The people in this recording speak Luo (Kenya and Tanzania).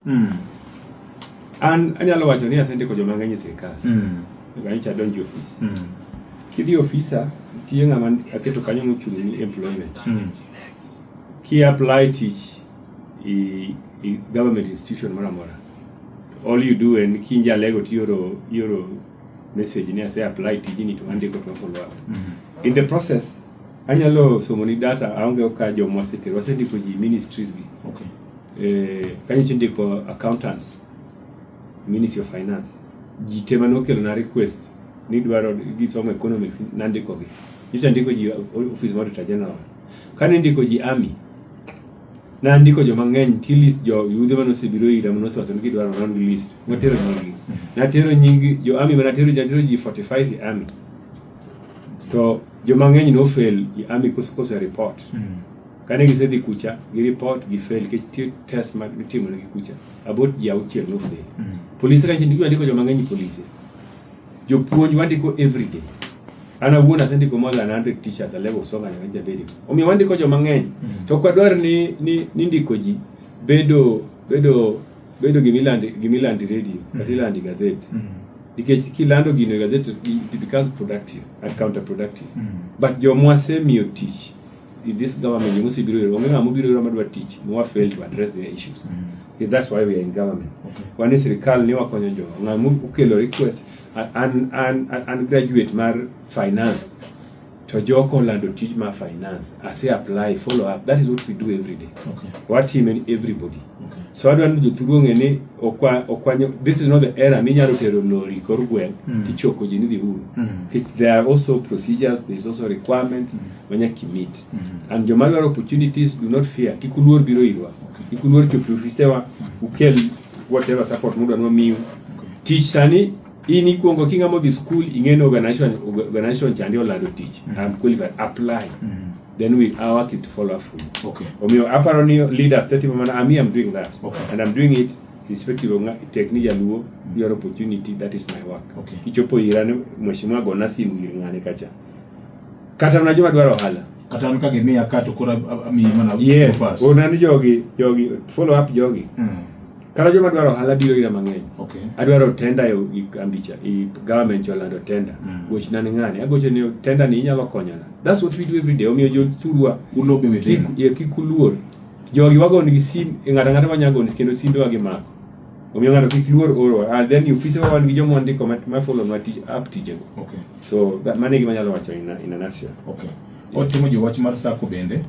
Mm. An anyalo wacho ni asendiko joma ng'eny e sirkal. Mm. Nyocha adonjo ofis. Mm. Kidhi ofisa nitie ng'ama aketo kanyo mochung' ni employment. Mm. Ki apply tich i, i government institution moro amora. All you do en kinjalego tioro ioro message ni ase apply tijini to andiko to follow up. Mm -hmm. In the process anyalo somo ni data aonge ka jomwa setero wasendiko ji ministries gi. Okay. eh, kanyo chindiko accountants ministry of finance ji te mane okelona request ni dwaro gisomo economics nandikogi nyocha ndiko ji office mar auditor general kane ndiko ji army nandiko joma ng'eny ti list jo yudhe mane osebiro ira mane osewacho ni gidwaro round list natero nyingi natero nyingi jo army manatero natero ji 45 e army to joma ng'eny nofail e army kose report mm. Kane gisedhi kucha, gi report gi fail nikech nitie test ma itimo negi kucha. About ji auchiel no fail. Mm. Polise kanyo ndio andiko joma ng'eny polise. Jopuonj wandiko every day. An awuon asendiko more than 100 teachers a level song and range abedi. Omiyo wandiko joma ng'eny. Mm. To kwa dwar ni ni, ni ndiko ji bedo bedo bedo gimilandi gimilandi radio mm. kata ilandi gazeti. Mm. Nikech kilando gino gazeti it becomes productive and counterproductive. Mm. But jomwa semiyo tich in this government you must be real wamwe amu biro roma dwa tich mo wa fail to address their issues mm. yeah, that's why we are in government okay. wani sirikal ni wakonyo jo ngamu ukelo request an an an graduate mar finance to joko lando tich mar finance ase apply follow up that is what we do every day okay. what him and everybody okay. so adwa ni jothuru ng'e ni okwa okwanyo this is not the era minyalo tero lori kor gweng mm. tichoko ji ni dhi uru mm. there are also procedures there is also requirement mm. manyaka kimit mm -hmm. and joma dwaro opportunities do not fear kik uluor biro irwa okay. kik uluor chopo ofisewa mm -hmm. ukel whatever support mudwa ni wamiu okay. tich sani in ikuongo king'ama odhi school ing'eni organization organization chandi olando tich mm -hmm. I'm qualified apply mm -hmm. then we our work is to follow up from okay omiyo aparo ni leaders tete mana ami I'm doing that okay. and I'm doing it irrespective of tek ni jaluo mm -hmm. your opportunity that is my work okay. kichopo irane mheshimiwa gona simu ir ng'ane kacha Kata na joma dwaro ohala. Kata an ka gimiya ka to koro amiyi mana yes. fast. Yes, unani jogi, jogi, follow up jogi. Mm. Kata joma dwaro ohala biro ira mang'eny. Okay. Adwaro tenda e ambicha, e government yolando tenda. Mm. Goch nani ng'ani, agocho ni tenda ni inyalo konyana. That's what we do every day. Omiyo jo thurwa. Ulobe within. Kik, kik uluor. Jogi wago nigi sim, ng'ata ng'ata manyagoni kendo simbe wagi mako. omiyo ng'ato kik luor oro and then ofise wa wan gi joma wandiko ma- ma follow nwa tij app tijego Okay. so that- mano e gima anyalo wacho in a- in a nutshell. Okay. Otimo jowach mar sako bende.